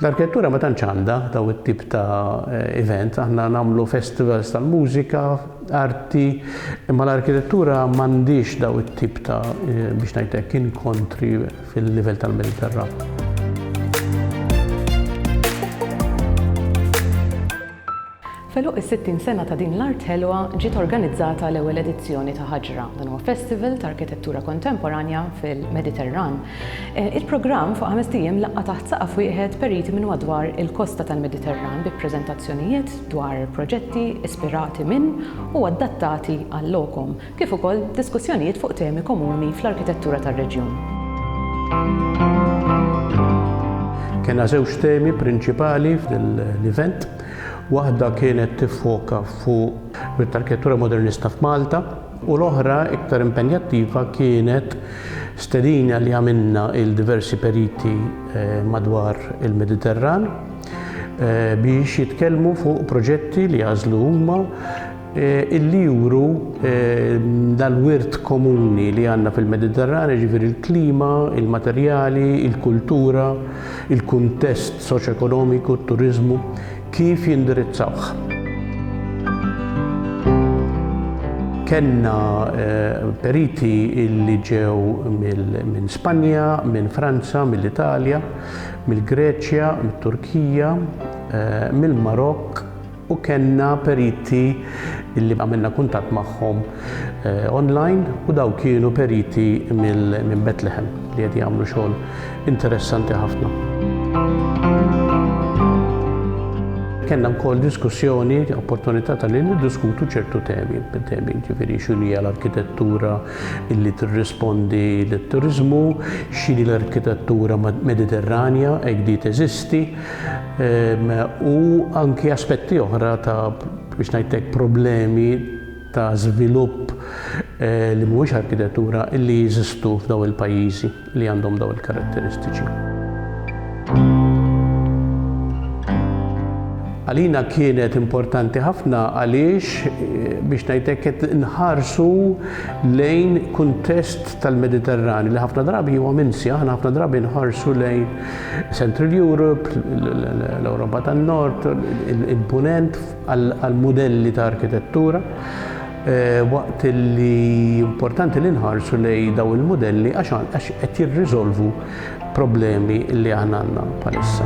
L-arkitettura ma tantx għandha daw it-tip ta' eh, event, aħna nagħmlu festivals tal-mużika, arti, imma l-arkitettura m'għandix daw it-tip ta' eh, biex ngħidlek inkontri fil-livell tal-Mediterran. F'għeluq is-60 sena ta' din l-art ħelwa ġiet organizzata l-ewwel edizzjoni ta' Ħaġra. Dan huwa festival ta' arkitettura kontemporanja fil-Mediterran. Il-programm fuq ħamest ijiem laqqa' taħt saqaf wieħed periti minn madwar il-kosta tal-Mediterran bi preżentazzjonijiet dwar proġetti ispirati minn u adattati għal-lokom. kif ukoll diskussjonijiet fuq temi komuni fl-arkitettura tar-reġjun. Kellna żewġ temi prinċipali f'din l-event. Waħda kienet tiffoka fuq l-arkitettura modernista f'Malta u l-oħra iktar impenjattiva kienet stedina li għamilna il diversi periti eh, madwar il-Mediterran eh, biex jitkellmu fuq proġetti li għażlu huma illi juru dal-wirt komuni li għandna fil-Mediterran, jiġifieri l-klima, il-materjali, il-kultura, il-kuntest soċjoekonomiku, t-turiżmu, kif jindirizzawh. Kellna periti li ġew minn Spanja, minn Franza, mill-Italja, mill-Greċja, mit-Turkija, mill-Marokk, U kellna periti li għamilna kuntatt magħhom online u dawn kienu periti minn Bethlehem li qed jagħmlu xogħol interessanti ħafna. Kellna wkoll diskussjoni, opportunità ta' li niddiskutu ċertu temi, temi ġifieri x'inhu hija l-arkitettura li tirrispondi lit-turiżmu, x'inhi l-arkitettura Mediterranja hekk di teżisti, u anki aspetti oħra ta' biex ngħidlek problemi ta' żvilupp li mhuwiex arkitettura li jeżistu f'daw il-pajjiżi li għandhom daw il-karatteristiċi. Għalina kienet importanti ħafna għaliex biex ngħidlek qed nħarsu lejn kuntest tal-Mediterran li ħafna drabi huwa minsi, aħna ħafna drabi nħarsu lejn Central Europe, l-Ewropa tan-Nord, il-Punent għal mudelli ta' arkitettura eh, waqt li importanti li nħarsu lej daw il-modelli għax qed jirriżolvu problemi li aħna għandna bħalissa.